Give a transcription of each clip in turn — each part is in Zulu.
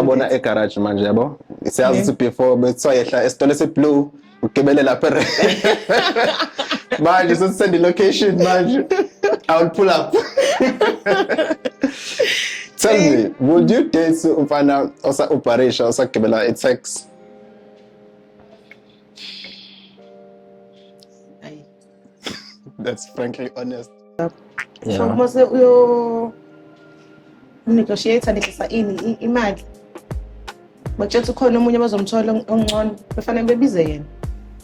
Abona egarage manje yabo. Siyazi ukuthi before bethiwa yehla esitolo esiblue ugibele lapha e- manje sesisend location manje. I will pull up. Tell me, would you date umfana osa uparisha osagibela i-tax? That's frankly honest. So Yeah. uma se uyo negotiate ngehlisa ini i- imali. Bakutshela ukuthi ukhona omunye abazomthola ong- ongcono befanele bebize yena.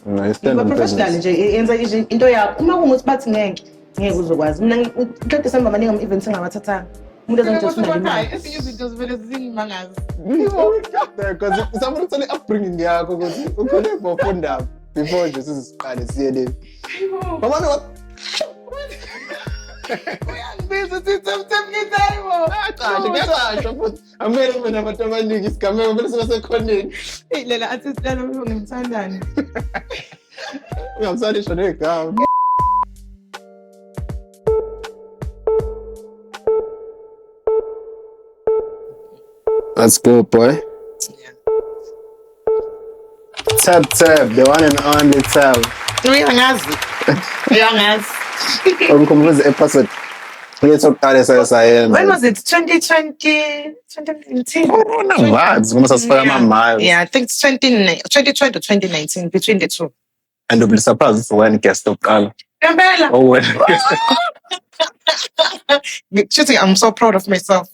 No, it's still Yiba in professional business. nje i- yenza nje into yakho. Uma kungukuthi bathi ngeke ngeke uzokwazi. Mina ngi- u- uqede samba maningi ama events engabathathanga. Umuntu Kodwa azongithola kodwa imali. hayi, ezinye izinto zivele zingimangaza. Because somebody tell you upbringing yakho ukuthi ukhule bofundaba. before nje siziqale siye le mama no uyangibiza uthi semsemkithayibo acahle kuyacasha futhi amele kube nabantu abaningi isigameko kumele siba sekhoneni eyi lela athi silala ngimthandane ungamsalisho negama Let's go, boy. Tap tap, the one and only tap. Uyangazi. Uyangazi. Umkhumbuza episode yethu yokuqala esaye sayenza. When was it? 2020, 2019? Corona ngazi uma sasifaka amamayo. Yeah, I think it's 20, 2020 or 2019, between the two. and you'll be surprised it's when guest lokuqala Ngempela. oh well Shooting, I'm so proud of myself.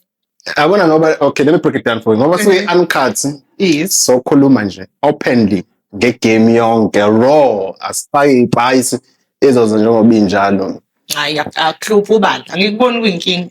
yabona ngoba okay let me break it down for you ngoba suyi uncut Yes. so khuluma nje openly ngegame yonke raw asifaki ipayice izoze njengoba injalo Hayi, akluphi ubala. Angikuboni kuyinkinga.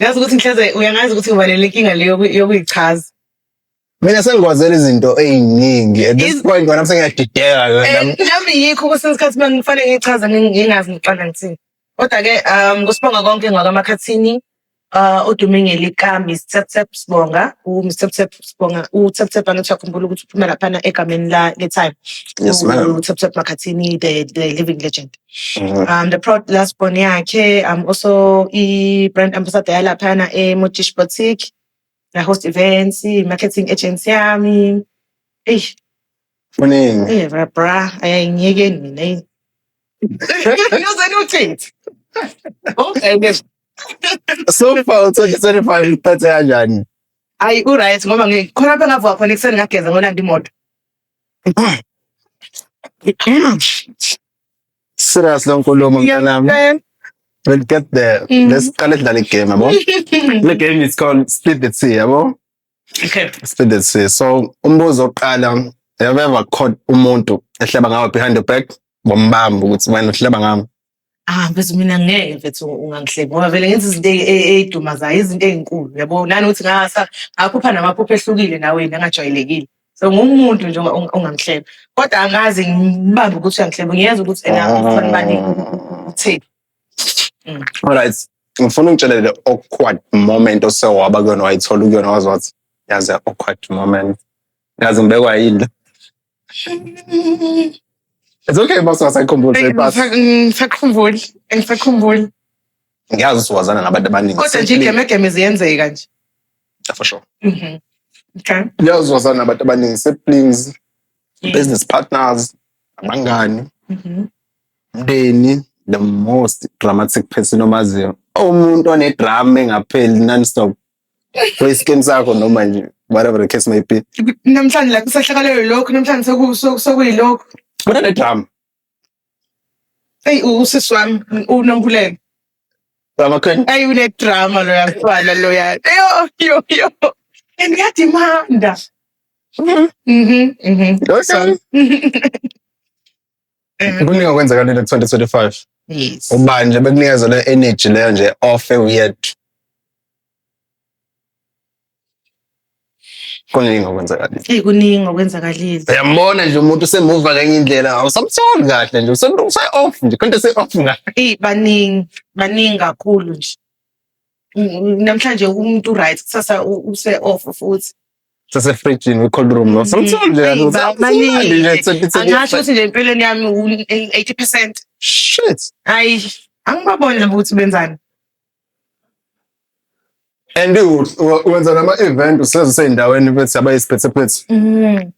Ngazi ukuthi ngihleze uyangazi ukuthi uvalele inkinga leyo yokuyichaza. Mina sengikwazela izinto eziningi at this point wena sengiyadideka yona. Eh, nami yikho kwesinye isikhathi uma ngifanele ngichaza ngingazi ngiqala ngithini. Kodwa ke um kusibonga konke ngakamakhathini uh odume ngelika Miss Tap Tap Sibonga u Miss Tap Tap Sibonga u Tap Tap angathi akhumbula ukuthi uphuma lapha egameni la le time. Yes ma'am. U Tap Tap Makhathini the the living legend. um the proud last born yakhe i'm also i-brand ambassador yalaphana emojish boutique ngiyahost events i-marketing agency yami eyi kuningi eh bra bra ayayingeke mina eyi. Uyoze niwuthethe. Okay ke. so far u-twenty twenty five uphethe kanjani Ayi uright ngoba ngikhona lapha ngavuka khona ekuseni ngageza ngolanda imoto. Serious lo nkulumo mntanami. Ngiyakutshela. We'll get there. Mhm. Let's qale sidlale igame yabo. Le game is called Split the Tea yabo. Okay. Split the Tea. So umbuzo oqala have you ever caught umuntu ehleba ngawe behind your back ngombamba ukuthi wena uhleba ngami. ah mfethu mina ngeke mfethu ungangihleki ngoba vele ngenza izinto ey'dumazayo izinto ey'nkulu yabo nani ukuthi ngasa ngaphupha namaphupho ehlukile naweni angajwayelekile so ngumuntu nje ongangihleba kodwa angazi ngibambe ukuthi uyangihleba ngiyeza ukuthi ena ufanibani utheni mm. alright ngifuna ungitshelele awkward moment osewaba kuyona wayithola kuyona wazi wathi yaze awkward moment ngaze ngibekwa yini It's okay uma singasayikhumbuli Eyi, but ngisa- ngisakhumbuli ngisakhumbuli ngiyazi ukuthi wazana nabantu abaningi. kodwa nje igemegeme ziyenzeka nje For sure. Mhm. Okay. Ngiyazi ukuthi wazana nabantu abaningi siblings, business partners, abangani, Mhm. umndeni. The most dramatic person omaziyo. Umuntu onedrama engapheli non-stop. kuyiskin sakho noma nje whatever the case may be namhlanje la kusahlakalelwe lokho namhlanje soku- soku- sokuyilokho bona nedrama eyi u- usisi wami unomphulelo amakhwenya ayi unedrama loya mfana loya yo yo yo and uyadimanda Mhm, mhm. Lo son. eh, kuningi okwenzakalile ku-2025 yes ubani nje bekunikeza le energy leyo nje ofe uyedwa kuningi okwenzakalile eyi kuningi okwenzakalile uyambona nje umuntu usemuva ngenye indlela awusamtholi kahle nje use-off nje konto ese-off ngayo eyi baningi baningi kakhulu nje Mm, namhlanje umuntu right kusasa u- use off futhi sasefrijini kwi-cold room no something nje Eyi, ukuthi, ba- "Ah, baningi. manje nje, it's a- it's a- angasho ukuthi nje empilweni yami u-eighty percent shit hayi angibaboni labo ukuthi benzani and u- u- wenza nama-event useze useyindaweni bethi abayisiphethephethe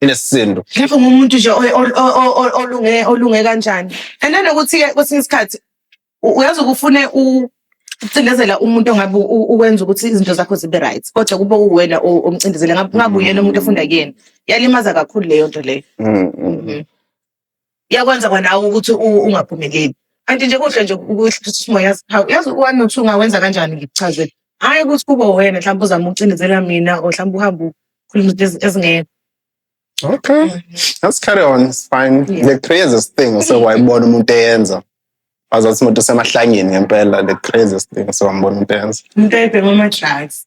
inesisindo lapho ngumuntu nje o- o- o- o- o- olunge olunge kanjani and nanokuthi ke kwesinye isikhathi u- uyazi ukufune ucindezela umuntu ongabe u- u- ukwenza ukuthi izinto zakho zibe right kodwa kube uwena o- omcindezela ngabe ngabe uyena umuntu ofunda kuyena yalimaza kakhulu leyo nto leyo Mm, mm. Mhm. iyakwenza kwanawe ukuthi ungaphumeleli kanti nje kuhle nje ukuthi simoya siphawu yazi one or two ungawenza kanjani ngikuchazele hhayi ukuthi kube wena mhlawumbe uzama ukucindezela mina or mhlawumbe uhambe ukhuluma izinto ezingekho Okay. Mm. Let's carry on. It's fine. Yeah. The craziest thing so wayibona umuntu eyenza. Wazathi umuntu usemahlangeni ngempela the craziest thing so wambona umuntu eyenza. Umuntu ayibhema ama drugs.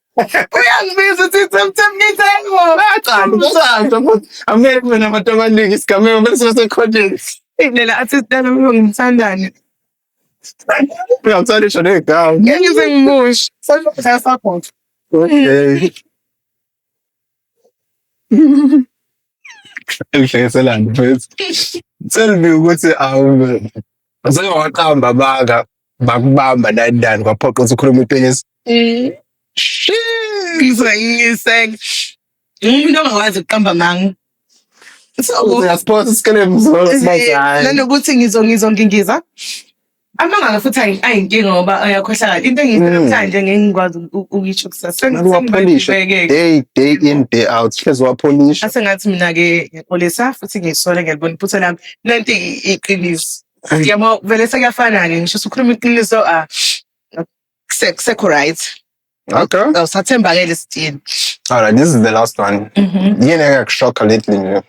Uyangibiza uthi semthembisa yangibona. Aqala umshado futhi angeke kube nabantu abaningi isigameko bese besekhonjeni. Indlela athi sidala umuntu ngimthandane. Uyamthanda isho negama. Ngeke ngize ngimushe. Sasha support. Okay. Ngihlekeselani mfethu. Tell me ukuthi awume. Sengawaqamba baka. bakubamba nani nani kwaphoqa ukuthi ukhulume iqiniso Mm. Ngizwayiseka. Umuntu ongakwazi ukuqamba manga. So uyasphosa isikelemu sibazali nanokuthi ngizo ngizo ngingiza. Amangala futhi ayi- ayinkinga ngoba ayakhohlakala. Into engiyisela Mm. namhlanje ngeke ngikwazi uku- ukuyisho kusasa. Sengi- uwapholishe sengibhekeke. day day in day out hlezi uwapholisha Asengathi mina-ke ngixolisa futhi ngisole ngiyalibona iphutha lami. Nanti i- iqiniso. Ay, Yabo vele sekuyafana-ke ngisho usukhuluma iqiniso ah, kuse- kusekho right okay. awusathembakele still Alright, this is the last one. Mhm. Yini engakushokha lately nje?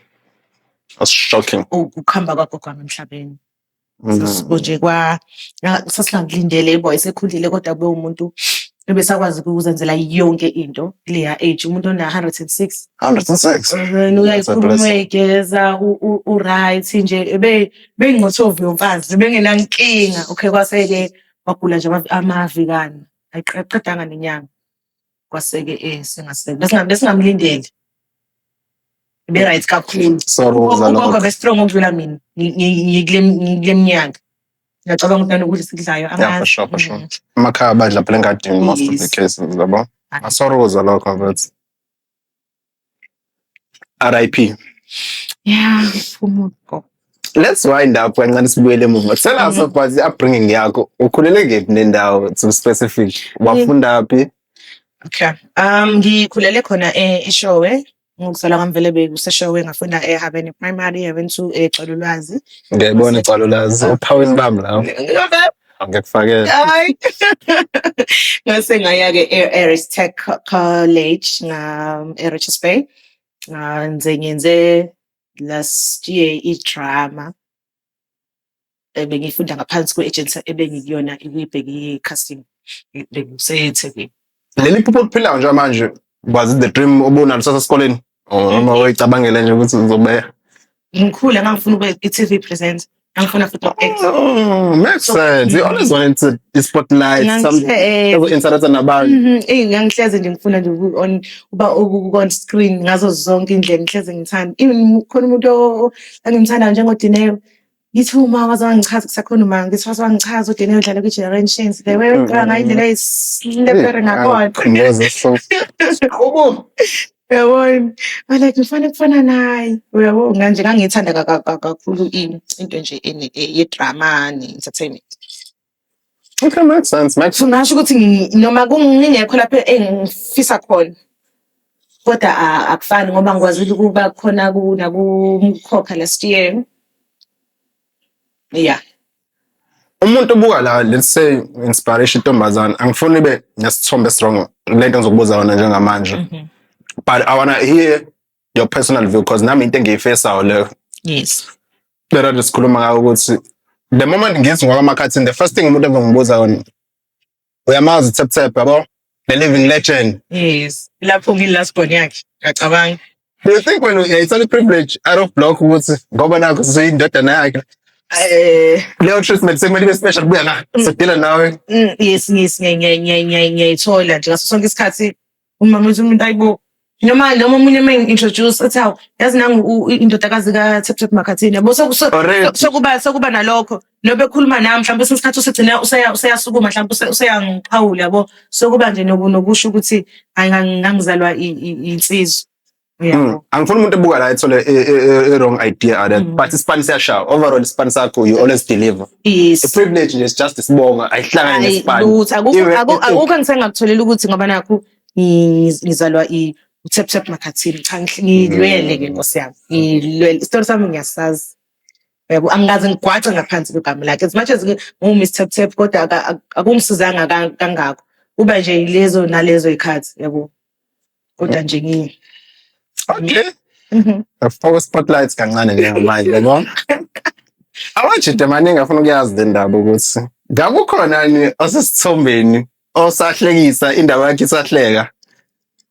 It's shocking. U- ukuhamba kwakho kwami emhlabeni Mm. sasibo nje kwa na- sasingakulindele boy sekhulile kodwa kube umuntu ebesakwazi ukuzenzela yonke into kuleya age umuntu ona 106 106 uyayikhuluma igeza u right nje ebe bengqothovu yomfazi bengenankinga okay kwaseke wagula nje amavikani ayiqedanga nenyanga kwaseke eh singaseke besingamlindele be right kakhulu sorry ugogo be strong ukudlula mina ngikule ngikule mnyaka ngiyacabanga ukuthi nokudla esikudlayo Yeah, for angazi sure, for sure. Emakhaya badla phela engadini most of the Yes. cases, yabo. Ah. Sorry ukuzwa lokho but RIP. yeah umuntu go Let's wind up kancane sibuyele emuva. Tell us Mhm. about the upbringing yakho. Ukhulele kephi nendawo to be specific? Wafunda phi? okay um ngikhulele khona e- eshowe Ngizala kwamvele bekuseshowe ngafunda eHabeni Primary, Heaven 2 eGcalulwazi. Ngiyayibona igcalulazi ophawini bami lawo. Ngiyakufakela. Hayi. Ngase ngaya-ke e-Aris Tech Co- College nga- eRichards Bay. Ngenze ngenze last year idrama. um bengiyifunda ngaphansi kwe-ejensi ebengikuyona ibibheke i-casting bengisethekwini leli phupho oliphilayo nje manje was it the dream obunalo sasesikoleni or noma uyicabangele nje ukuthi uzobeya ngikhule ngangifuna ube i-tv presenter ngangifuna futhi uku-actor Oh, makes sense. You always wanted to the spotlight, Ngangihle- something eh, ever interact nabantu. Mhm, eyi ngangihleze nje ngifuna nje uku- on- uba uku- on screen ngazo zonke indlela ngihleze ngithanda even khona umuntu o- o- engimthanda njengodineo ngithi uma waze wangichaza kusakhona uma ngithi waze wangichaza udineo udlala kwi-generations the way wegqoka ngayo indlela eyisilepere ngakhona Ngeze so Ubo. yabona like ngifane kufana naye uyabo nganje ngangiyithanda ka- ka- ka- kakhulu i- into nje ene- e- yedrama ne-entertainment Okay, makes sense. Makes so ngasho ukuthi ngi- noma kungingekho lapho engifisa khona kodwa a- akufani ngoba ngikwazile ukuba khona ku- nakumkhokha last year yeah umuntu ubuka la let's say inspiration intombazane angifuni ibe nesithombe strong lento engizokubuza yona njengamanje but i wanna hear your personal view because nami into engiyifesayo leyo yes lera sikhuluma ngayo ukuthi the moment ngithi ngwakwamakathini the first thing umuntu engimubuza yona uyamazi tap tap yabo the living legend yes lapho ngi last born yakhe ngacabanga do you think when it's a privilege out of block ukuthi ngoba nakho siyindodana yakhe eh leyo treatment sekumele ibe special kubuya la mm. sidila nawe mm, yes yes ngiyayithola nje ngaso sonke isikhathi umamisa umuntu ayibo noma noma omunye uma introduce ethi hawu yazi nangu u- u- indodakazi ka-taptap makhathini yabo So- so- Already. sokuba sokuba nalokho lobe ekhuluma nami mhlawumbe kwesinye isikhathi usegcina useya- useyasukuma mhlawumbe use- useyangiqhawula yabo sokuba nje noku- nokusho ukuthi hayi ngang- ngangizalwa i- i- insizwa Mm. angifuni umuntu ebuka la ethole i-wrong e, e, e, idea out mm. but isipani siyashaya overall isipani sakho you always deliver yes. a privilege nje just isibonga ayihlangani nesipani lutho akukho ngisengakutholela ukuthi ngoba nakho ngizalwa i utap tap makhathini cha ngilwele ke mm. nkosi yami ngilwele isitori sami ngiyasazi yabo angikaze ngigwaxe ngaphansi kwegama lakhe as much as ngiwu-miss tap tap kodwa akungisizanga kangako uba nje yilezo nalezo ikhathi yabo kodwa nje ngi okay mhm. afaka spotlights kancane njengamanje yabo awajide maningi afuna ukuyazi le ndaba ukuthi ngakukhona ni osesithombeni osahlekisa indaba yakhe isahleka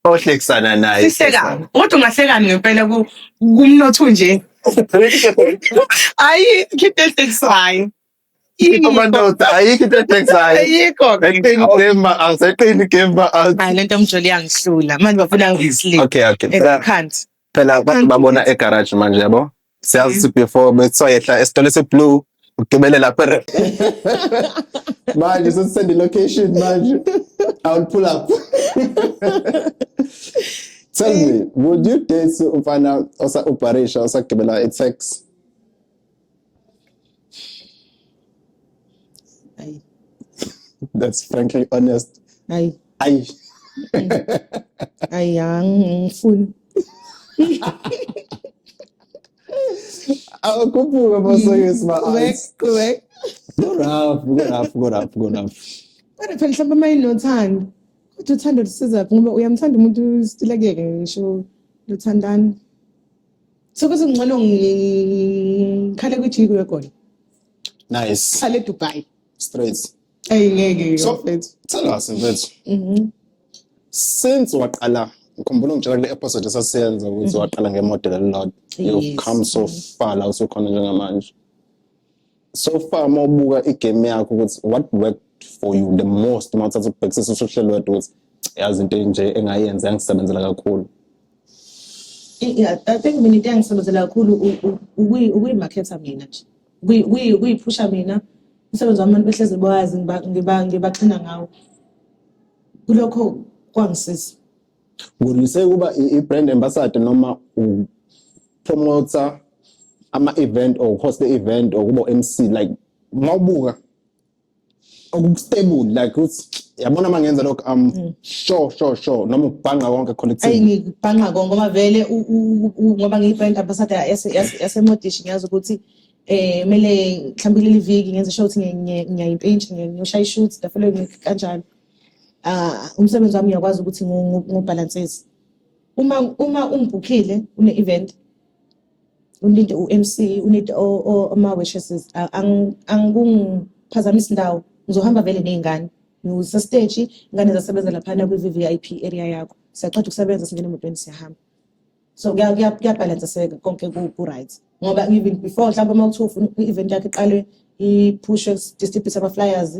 ohlekisana naye sihleka kodwa ungahlekani ngempela ku- kumnotho nje ayi khiphe ehlekisayo Ito man daw, tayi kita text ay. Ayiko. Eqin game ba ang sa eqin game ba ang. Ay, lento mjoli angihlula. Manje bafuna ngisleep. Okay, okay. It Phela, can't. phela abantu babona egarage manje yabo. Siyazi ukuthi before bethiwa yehla esitolo esiblue ugibele lapha. re- Manje sesisend location manje. I will pull up. Tell me, would you date umfana osa uparisha osagibela i-tax? Ayi. That's frankly honest. Ayi. Ayi. Ayi angifuni. Awukhuphuke bosokisi ma. Qhubek, qhubek. Go rough, go rough, go rough, go rough. Kodwa phela mhlawumbe uma inothando. Kodwa uthando lusiza ngoba uyamthanda umuntu usitilekeke ngisho luthandana. sokuthi ngcono ngikhale kwi-jiko yegoli nice khale edubai straight eyi ngeke so mfethu tell us mfethu mm-hmm. since waqala ngikhumbula ungitshela kule episode esasiyenza ukuthi mm-hmm. waqala ngemodel elilodwa you've come so mm-hmm. far la usukhona njengamanje so far uma ubuka igame yakho ukuthi what worked for you the most uma uthatha ukubhekisisa usho uhlelo wedwa ukuthi yazi into enje engayenza yangisebenzela kakhulu yeah i think mina into engisebenzela kakhulu ukuyimakhetha mina nje ukuyiphusha mina umsebenzi wami abantu behlezi bawazi ngibaxhina ngawo kulokho kwangisiza Ngulise ukuba i-brand ambassador noma promoter ama-event or host event or kubo MC like mawubuka okustable like ukuthi yabona uma ngenza lokho am mm. sure sure sure noma ubhanqa konke collective ayi ngibhanqa konke ngoba vele ngoba ngiyi-brand ambassador yasemodishi ngiyazi ukuthi eh mele mhlawumbe leli viki ngenze sure ukuthi ngiyayimpintshi ngiyoshaya i-shoot the following week kanjalo ah umsebenzi wami uyakwazi ukuthi ngubalansezi uma uma ungibhukhile une event uninde uMC unide ama wishes angikungiphazamisa indawo ngizohamba vele nezingane ngiwusa stage ingane zasebenza laphana kwi VIP area yakho siyaqeda ukusebenza singena emotweni siyahamba so kuyabhalansiseka konke ku-right ngoba even before mhlawumbe uma kuthiwa ufuna i-event yakho iqalwe i-pushes distribute ama-flyers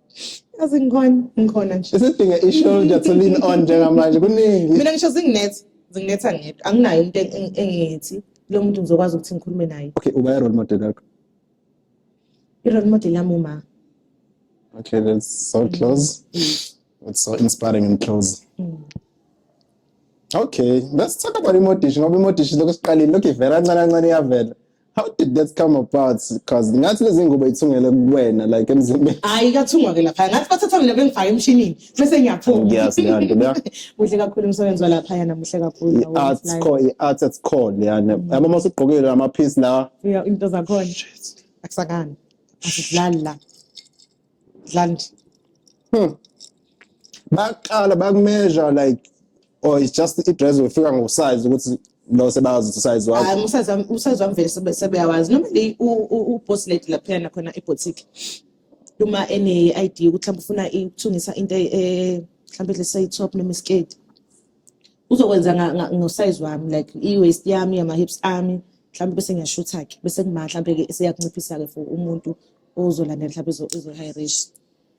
Yazi ngikhona, ngikhona nje. Isidinga i-shoulder to lean on njengamanje kuningi. Mina ngisho zinginetha, zinginetha ngedwa. Anginayo umuntu eng- eng- engithi lo muntu ngizokwazi ukuthi ngikhulume naye. Okay, uba i-role model yakho. I-role model yami uma. Okay, that's so close. It's so inspiring and close. Okay, let's talk about imodishi ngoba imodishi lokho siqalile lokho ivela kancane kancane iyavela. How did that come about? Because ngathi lezi ngubo ithungele kuwena like emzimbeni. Hayi kathungwa ke lapha. Ngathi bathatha mina bengifaka emshinini bese ngiyaphuma. Ngiyazi leyo nto leyo. Muhle kakhulu umsebenzi walapha yana muhle kakhulu. I art core, i art at core leyana. Yabo uma usugqokile ama piece la. Yeah, into zakhona. Akusakani. Asidlali la. Dlandi. Hmm. Baqala bakumeasure like or it's just i-dress wefika ngosize ukuthi lo sebazi ukuthi usize wakho. Hayi umsazwa umsazwa mvele sebe- sebeyawazi. Noma le u- u- u-boss lady laphayana khona eboutique. Uma ene-ID ukuthi mhlawumbe ufuna i- ukuthungisa into e- e- mhlawumbe let's say top noma isiketi. Uzokwenza nga- nga- ngosize wami like i-waist yami, ama-hips ami. Mhlawumbe bese ngiyashutha-ke bese kuma mhlawumbe-ke seyakunciphisa-ke for umuntu uzolandela mhlawumbe izo- izo-high risk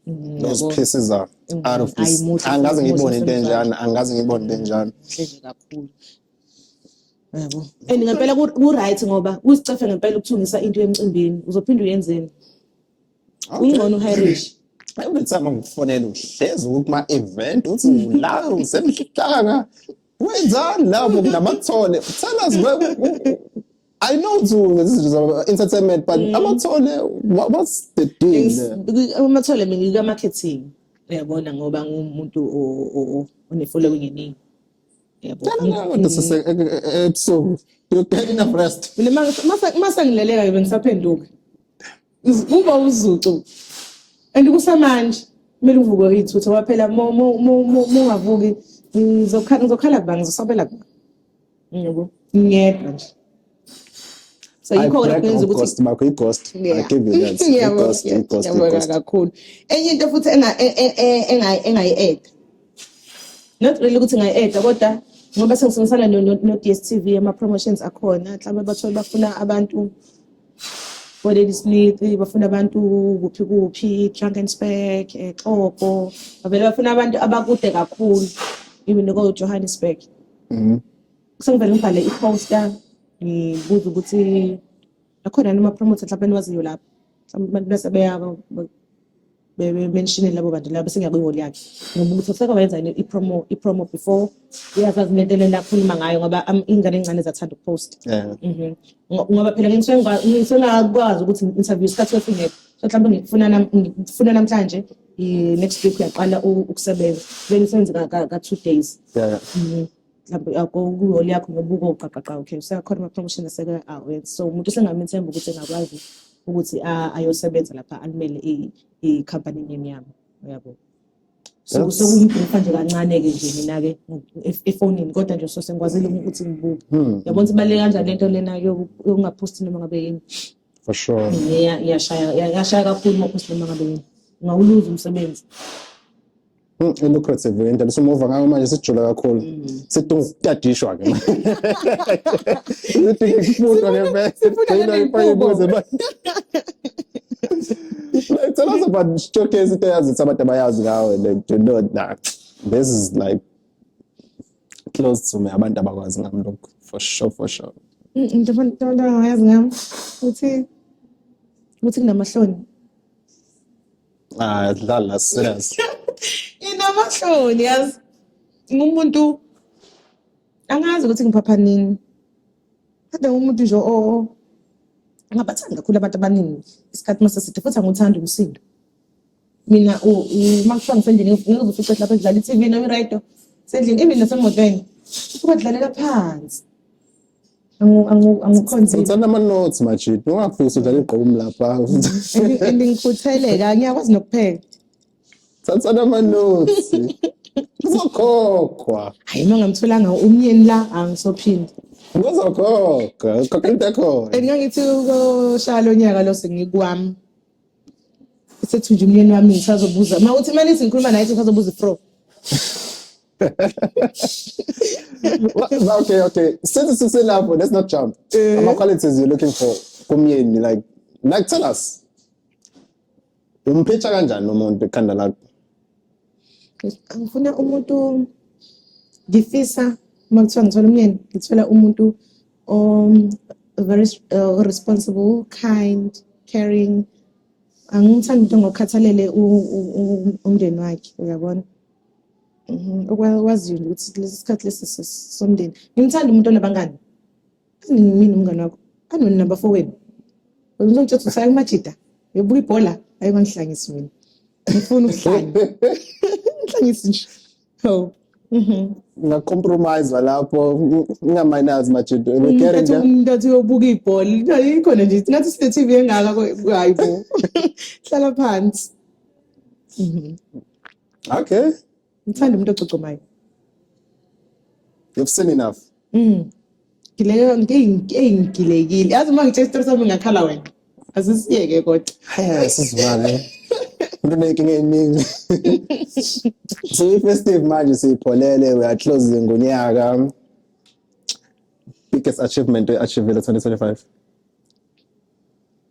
Mm, those yabo. pieces are Mm, out of this ayimuhle futhi angikaze umuzi ngiyibone into wasemzansi. enjalo angikaze ngiyibone into enjalo Muhle nje kakhulu yabo and ngempela ku- ku-right ngoba kusicefe ngempela ukuthungisa into emcimbini uzophinde uyenzeni ungcono u-high risk every time angikufonela uhlezi ukuma-event uthi ula usemhlanga wenzani lapho kunamathole tell us where- u- u- I know to this is about entertainment, but mm. amathole, what, what's the deal? Amathole mina ngika marketing. Uyabona ngoba ngumuntu one following eningi. Uyabona. This is episode. You're getting a rest. Mina masa ngileleka ngibe ngisaphenduka. Uba uzucu. And kusamanje kumele uvuke uyithutha waphela mo mo mo ungavuki ngizokhala ngizokhala kuba ngizosabela kuba. yebo ngiyedwa nje so yikho ke kwenza ukuthi ghost makho ighost i give you that ighost ighost ighost kakhulu enye into futhi enga e, e, e, enga engayi add not really ukuthi ngayi add kodwa ngoba sengisebenzisana no, no, no DSTV ama promotions akhona mhlawumbe bathola bafuna abantu Bodeni Smith bafuna abantu kuphi kuphi Drankensberg exopo eh, bavele bafuna abantu abakude kakhulu even ko Johannesburg Mhm. Sengivele ngibhale i-poster ngibuze ukuthi akhona yini ama-promoter mhlawumbe eniwaziyo lapho mhlawumbe abantu bese beyaba bemenshine labo bantu labo bese ngiyakwi-wall yakhe ngoba ukuthi useke wayenza yini i-promo i-promo before uyazazi nento elena akhuluma ngayo ngoba am- iy'ngane ey'ncane zathanda ukuposta Yeah. Mhm. Ngo- ngoba phela ke ngisuke ngikwa- ngisuke ngingakwazi ukuthi interview isikhathi sesingekho so mhlawumbe ngikufuna nam- ngikufuna namhlanje next week uyaqala ukusebenza kumele usenze ka-two days yeah. mm. kuholi yakho ngobuko uqaqaqa okay useyakhona ama-promotion aseke awenza so umuntu usengamethemba ukuthi engakwazi ukuthi ayosebenza lapha alimele i-company emnyama uyabo so sokuyibhrifa nje kancane-ke nje mina-ke efonini kodwa nje so sengikwazile ukuthi ngibuke hmm. yabona ukuthi ibaluleke kanjani lento lena yokungaphosti noma ngabe yini for sure Iya- iyashaya iya- iyashaya kakhulu uma uphosile uma ngabe wena ungawuluza umsebenzi Mm, i-lucrative into besumuva ngayo manje sijula kakhulu sidinga ukutadishwa ke sidinga ukufundwa ngempela Sidinga ibuze tell us about showcase into eyazi ukuthi abantu abayazi ngawe like do not nah this is like close to me abantu abakwazi ngami lokhu for sure for sure into abantu abangayazi ngami ukuthi ukuthi kunamahloni ah dlala serious inamahloni yazi ngumuntu angazi ukuthi ngiphapha nini kodwa ngumuntu nje o ngabathanda kakhulu abantu abaningi isikhathi mase side futhi angithanda umsindo mina uma kuthiwa ngisendlini ngizofica lapha edlala i-tv noma iradio sendlini even nasemotweni usuke adlalela phansi angikhonzile uthanda ama-notes majidi ungafisi udlala igqomu lapha and ngikhutheleka ngiyakwazi nokupheka thathana ama-notes uzokhokhwa hayi uma ngamtholanga umyeni la angisophinde uzokhokha ukhokha into ekhona and ngangithi ukoshaya lo nyaka lo sengikwami Sethunje umyeni wami ngisazobuza. Uma uthi manje singikhuluma naye sisazobuza ifro. Well, okay, okay. Since it's in love, let's not jump. Eh. Ama qualities you're looking for kumyeni like like tell us. Umphetha kanjani umuntu ekhanda lakho? ngifuna umuntu ngifisa uma kuthiwa ngithola umyeni ngithola umuntu um, very uh, responsible kind caring angimthandi umuntu ngokhathalele umndeni wakhe uyabona mhm, okwaziyo ukuthi lesi sikhathi lesi somndeni ngimthanda umuntu onabangani mina umngane wakho anoni nabafowenu ngizongitshela ukuthi usaya kumajida ngibuka ibhola ayi bangihlangisi mina ngifuna ukuhlanya ngihlangisi nje oh mhm. ngacompromise lapho ngingamayinazi majida umuntu athi uyobuka ibhola ikhona nje ngathi sine TV engaka hayi bo hlala phansi mhm. okay Ngithanda umuntu ococomayo. You've seen enough. Mm. Ngileka ngiyingilekile. Yazi uma ngithe isitori sami ngakhala wena. Asisiyeke kodwa. Hayi sizimane. Umuntu unenkinga eningi. So festive manje siyipholele we are closing ngonyaka. Biggest achievement we achieved 2025.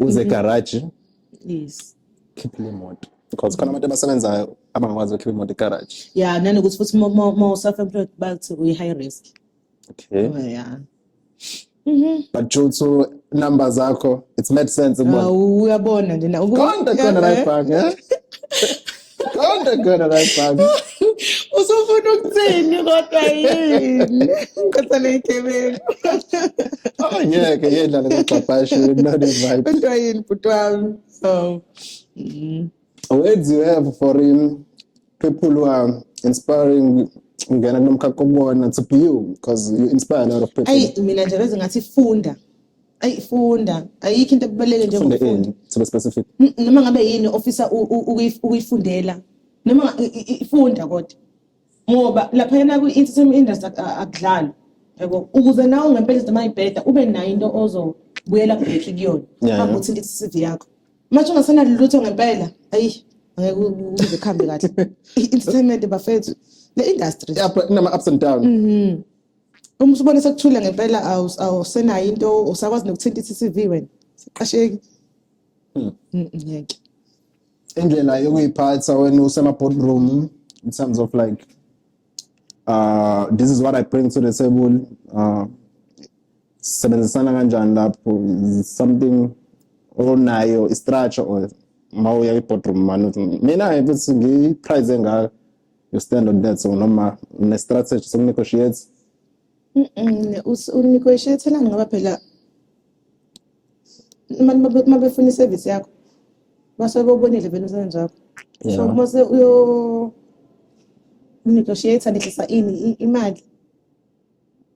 uze mm-hmm. garage yes khiphe le moto because khona abantu abasebenzayo abangakwazi ukukhipha imoto egarage ya nanokuthi futhi uma uself employed bathi uyi-high risk okay oh, yeah Mm-hmm. but due to number zakho it's made sense uyabona nje konta khona la ibhange Kodwa khona la bhaka. Usufuna ukuthini kodwa yini? Kodwa legebengu. Oh ngeke yedlala ngogxabhashu not invite. Kodwa yini bhuti wami? So. Mm. Words you have for him people who are inspiring ngena kulomkhakha kubona to be you because you inspire a lot of people. Ayi mina nje bese ngathi funda. ayi funda ayikho into ebaluleke njengokufunda sibe specific noma ngabe yini ofisa ukuyifundela noma ifunda kodwa ngoba lapha yena kwi entertainment industry akudlali yabo ukuze nawe ngempela noma ibheda ube nayo into ozobuyela back kuyona hamba uthinte i-CV yakho manje ungasenalo lutho ngempela ayi angeke ukuze kuhambe kahle i-entertainment bafethu le industry yabo inama ups and down mhm uma usubona sekuthule ngempela awusenayo into usakwazi nokuthinta i-CCV wena siqasheki hmm. mm, mm, ngeke indlela yokuyiphatha wena usema boardroom in terms of like uh this is what i bring to the table uh sebenzisana kanjani lapho something onayo i-structure or ma uya i-boardroom mani mina ngithi ngiyi-prize engaka you stand on that so noma ne strategy so negotiate u negotiate la ngoba phela manje mabefuna i service yakho basuke bobonile vele umsebenzi wakho so mase uyo negotiate ngehlisa ini imali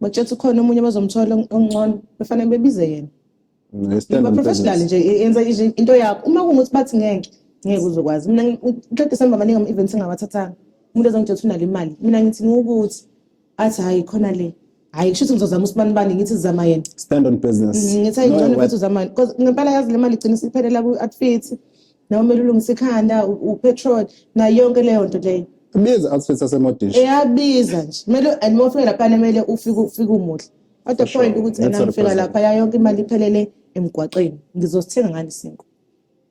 bakutshela ukuthi ukhona omunye abazomthola ongcono befanele bebize yena Ngiba professional nje e- yenza i- into yakho. Uma kungukuthi bathi ngeke ngeke uzokwazi. Mina ngi- uqeda December maningi ama events engawathathanga. Umuntu ezongitshela ukuthi unale imali. Mina ngithi ukuthi athi hayi khona le. Hayi kusho ukuthi ngizozama usibani bani ngithi zama yena. Stand on business. Mm, Ngithi hayi Know ngcono what? futhi uzama yena. Cause ngempela yazi le mali igcina isiphelela ku outfit. Nawe kumele ulungise ikhanda, u- upetrol, nayo yonke leyo nto leyo. Biza outfit yasemodish. Eyabiza nje. Kumele and uma ufika lapha kumele ufike ufike umuhle. At the point ukuthi yena ngifika lapha ya yonke imali iphelele emgwaqeni. Ngizosithenga ngani isinkwa?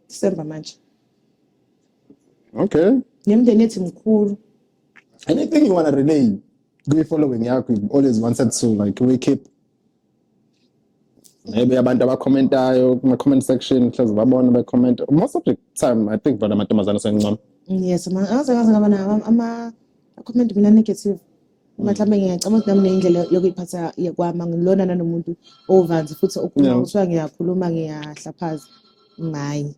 December manje. Okay. Nemndeni ethi mkhulu. Anything you want to relay kwi following yakho you always wanted to like we keep maybe abantu abakhomentayo kuma comment section mhlawumbe babona be comment most of the time i think bona amantombazana sengincoma yes ma angaze ngaze ngaba nawo ama comment mina negative mhlawumbe ngiyacabanga ukuthi nami neyindlela yokuyiphatha kwami angilona nanomuntu ovanzi futhi okhuluma Yeah. kuthiwa ngiyakhuluma ngiyahlaphaza ngayi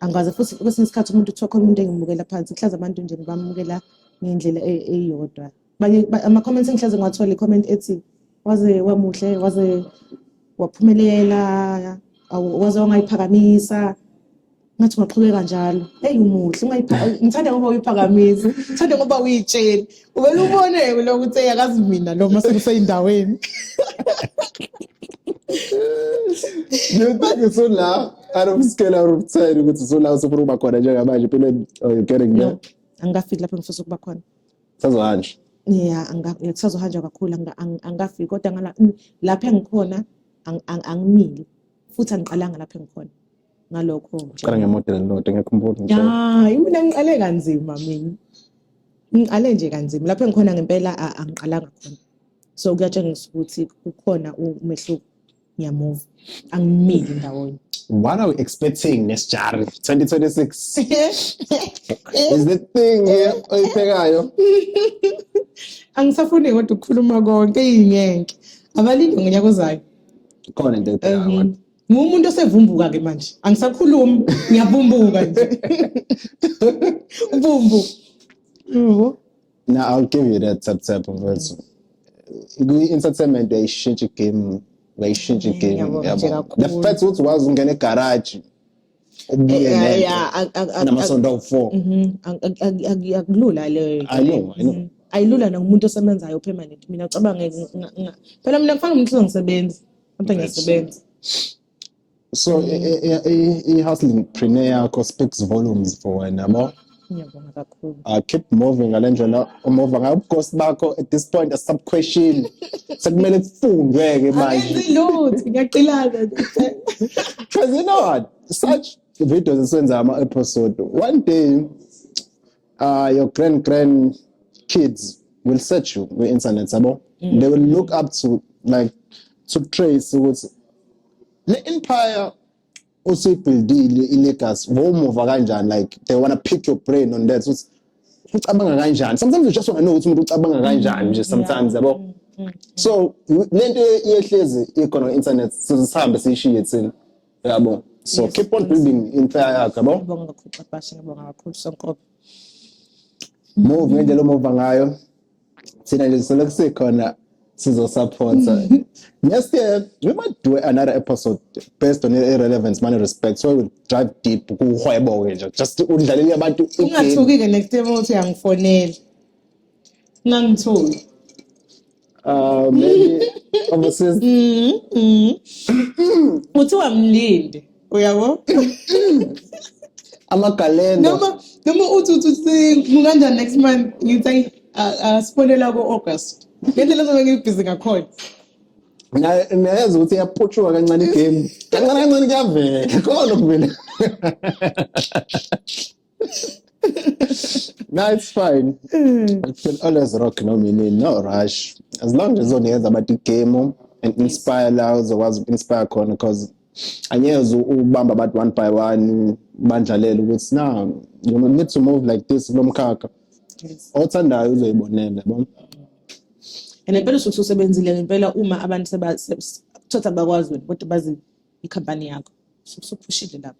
angikwazi futhi kwesinye isikhathi umuntu kuthiwa khona umuntu engimukela phansi kuhlaza abantu nje ngibamukela ngendlela e- eyodwa Abanye- ba- ama-comments engihlaze ngiwathole i-comment ethi waze wamuhle waze waphumelela awu- waze wangayiphakamisa ngathi ungaqhubeka njalo eyi umuhle ngithanda ngoba uyiphakamisa ngithanda ngoba uyitsheli uvele ubone lo ukuthi eyakazi mina lo ma sekuseyindaweni you think it's so loud out of scale out of time ukuthi so loud sofuna ukuba khona njengamanje empilweni oh, you getting there angikafiki lapho ngifisa ukuba khona sazohanja ya kusazohanjwa kakhulu angikafiki kodwa lapho engikhona angimile futhi angiqalanga lapho engikhona ngalokho qala ngemodel elilodwa ngiyakhumbula nje hayi mina ngiqale kanzima mina ngiqale nje kanzima lapho engikhona ngempela a- angiqalanga khona so kuyatshengisa ukuthi kukhona umehluko ngiyamuva angimili ndawonye what are we expecting nesijari 2026 is the thing eh, oyiphekayo angisafuni kodwa ukukhuluma konke iyingenke abalinde ngonyaka ozayo khona into eyiphekayo Mhm. kodwa. Ngumuntu osevumbuka ke manje. Angisakhulumi, ngiyavumbuka nje. Ubumbu. Yebo. Now I'll give you that tap tap mfethu. Kwi-entertainment uyayishintsha igame, uyayishintsha igame. Ngiyabonga nje yabo. kakhulu. The fact ukuthi wazi ungena egaraji ukubiyele namasonto awu-four akulula leyo I know, I know. Mhm. ayilula nakumuntu osebenzayo permanent mina cabange phela mina kufana umuntu uzongisebenzi mntu ngiyasebenza so i- i- i- i-hustling preneur yakho speaks volumes for wena yabo Ngiyabonga kakhulu. I ah, keep moving ngale ndlela umuva ngayo ubukhosi bakho at this point asisabukhoshile. Sekumele kufundwe ke manje. Akenzi lutho, ngiyaqilana nje. Cause you know what? Such videos esenza ama episode. One day uh, your grand grand kids will search you with internet sabo. Mm. They will look up to like to trace ukuthi le empire usuyibuildile ilegacy ngomuva kanjani like they wanna pick your brain on that ukuthi ucabanga kanjani sometimes you just wanna know ukuthi umuntu ucabanga kanjani nje sometimes yabo mm, mm, mm. so lento yehlezi ikhona internet sizihambe siyishiye thina yabo so yes, keep on yes. building inhla yakho yabo ngibonga kakhulu Xabashe ngibonga kakhulu Sonkobe move ngendlela omova ngayo thina nje sisolokhu sikhona sizosupporta next year we might do another episode based on irrelevance money respect so we will drive deep kuhwebo-ke nje just udlalele abantu igame ungathuki-ke next year uthi uyangifonela ungangithuki Uh, maybe overseas kuthiwa mlinde uyabo amagalelo noma noma uthi uthi kunganjani next month ngithi asifonela ku-august ngendlela zobe ngibhizi ngakhona nayazi ukuthi iyaputshuka kancane igame kancane kancane kuyavela khona lokuvela no, it's fine. Mm. I can always rock no meaning, no rush. As long as on the but the game and inspire loud was inspire corner because angeze ubamba abantu one by one bandlalele ukuthi na you need to move like this kulo mkhakha othandayo uzoyibonela yabo and impela usuke usebenzile impela uma abantu sebakuthatha bakwazi ukuthi bazi ikhampani yakho usuphushile lapho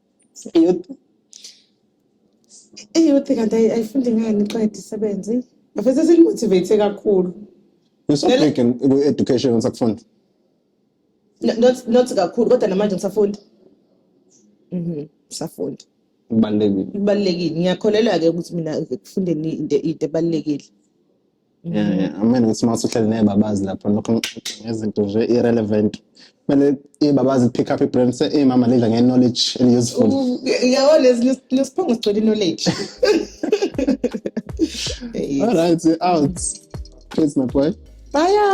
Iyouth iyouth kanti ayi- ayifundi ngani iqeda isebenzi. Bafethu sesimotivate kakhulu. You're so Ngale- big in in education usakufunda. No- Not not kakhulu kodwa namanje ngisafunda. Mhm. Ngisafunda. Kubalulekile. Kubalulekile. Ngiyakholelwa ke ukuthi mina ekufundeni into into ebalulekile. amene ukuthi uma usuhleli nebabazi lapho lokho ngixoxe ngezinto nje irrelevant kumele ibabazi pick up ibrand se imama lidla nge-knowledge eli-useful yawo lesiphongo sigcwele i-knowledge all right out peace my boy bye